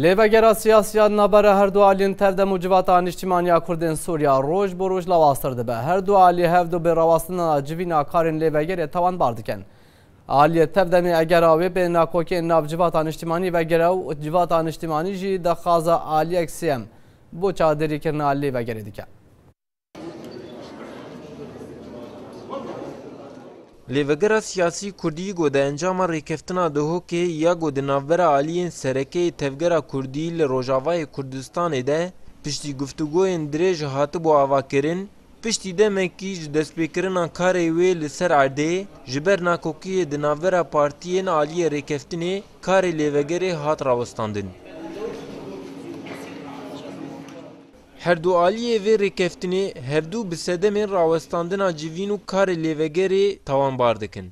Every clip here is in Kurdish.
Lê vegera siyasî ya di navbera her du aliyên tev de mû civata nîştîmanî ya kurdên Sûriya roj bo roj lawaztir dibe. Her du aliyê hev du bêrawastinan a civîna karên lê vegerê tawanbar dikin. Aliyê tev demê egera wê bên a kokên nav civata nîştîmanî vegere û civata nîştîmanî jî daxwaza aliyek sêyem bo çadirîkirina lê vegerê dike. Lêvegira siyasî kurdî ku di encama rêkeftina Duhokê ya ku di navbera aliyên sereke yê tevgera kurdî li Rojavayê Kurdistanê de piştî guftûgoyên dirêj hatibû avakirin, piştî demekî ji destpêkirina karê wê li ser erdê ji ber nakokiyê di navbera partiyên aliyê rêkeftinê karê lêvegerê hat rawestandin. Her du aliyê vê rêkeftinê hevdu bi sedemên rawestandina civîn û karê lêvegerê tawanbar dikin.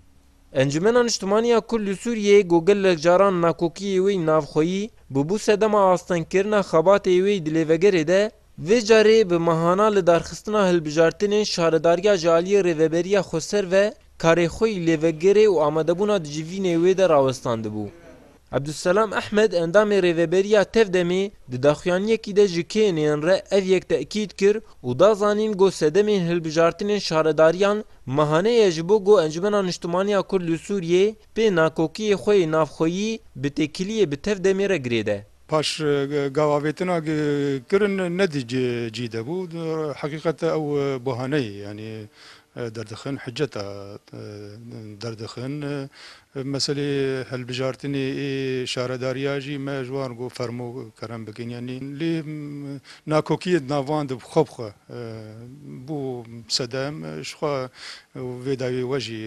Encumena Niştimanî ya Kurd li Sûriyeyê ku gelek caran nakokiyê wê yî navxweyî bûbû sedema astengkirina xebatê wê yî di lêvegerê de, vê carê bi mehana lidarxistina hilbijartinên şaredariya ji aliyê rêveberiya xweser ve karê xwe yî lêvegerê û amadebûna di civînê wê de rawestandibû. Abdulselam Ehmed endamê Rêveberiya Tevdemê di daxuyaniyekî de ji KNY'ên re ev yek tekîd kir û da zanîn ku sedemên hilbijartinên şaredariyan mehane ye ji bo ku Encumena Niştimaniya Kurd li Sûriyê pê nakokiyê xwe yê navxweyî bi têkiliyê bi tev demê re girêde. Paş gavavêtina ku kirin ne di cî de bû, di heqîqetde ew bahaneyê yanî derdixin, hiceta derdixin, Bi meselê hilbijartinê ê şaredariya jî me ji wan go fermo kerem bikin yanî lê nakokiyê di nav wan de xwe bi xwe bo sedem ji xwe vê dawiyê we jî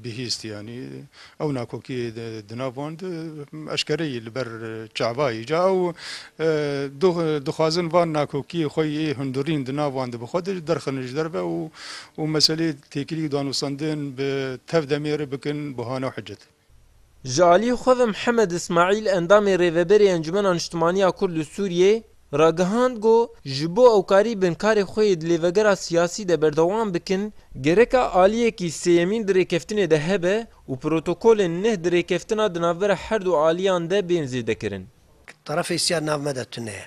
bihîst yanî ew nakokiyê di nav wan de eşkereyî li ber çavayî ca ew dixwazin van nakokiyê xwe ê hundirîn di nav wan de bi xwe de derxin ji derve û meselê Têkilî û danûstandin bi tev demê re bikin bahane û hicet. Ji aliyê xwe ve Mihemed Îsmaîl endamê Rêveberê Encûmena Niştimanî ya Kurd û Sûriyê ragihand ku ji bo ew karî bin karê xwe yê di lêvegera siyasî de berdewam bikin, gereka aliyekî sêyemîn di rêkeftinê de hebe û protokolên neh di rêkeftina di navbera her du aliyan de bên zêdekirin. Terefê sîya di nav me de tune ye.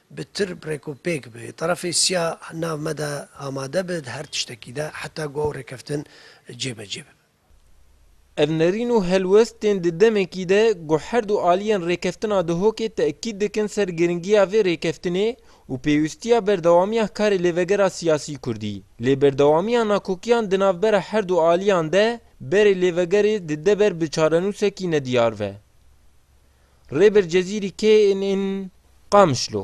bi tirb rêk û pêk bi terefê siya nav me de amade bi di her tiştekî de heta ku ew rêkeftin cêbecê bibe. Ev nerîn û helwest tên di demekî de ku her du aliyên rêkeftina Duhokê tekîd dikin ser giringiya vê rêkeftinê û pêwîstiya berdewamiya karê lêvegera siyasî kurdî. Lê berdewamiya nakokiyan di navbera her du aliyan de berê lêvegerê dide ber bi çarenûsekî nediyar ve. Rêber Cezîrî kê in in Qamişlo?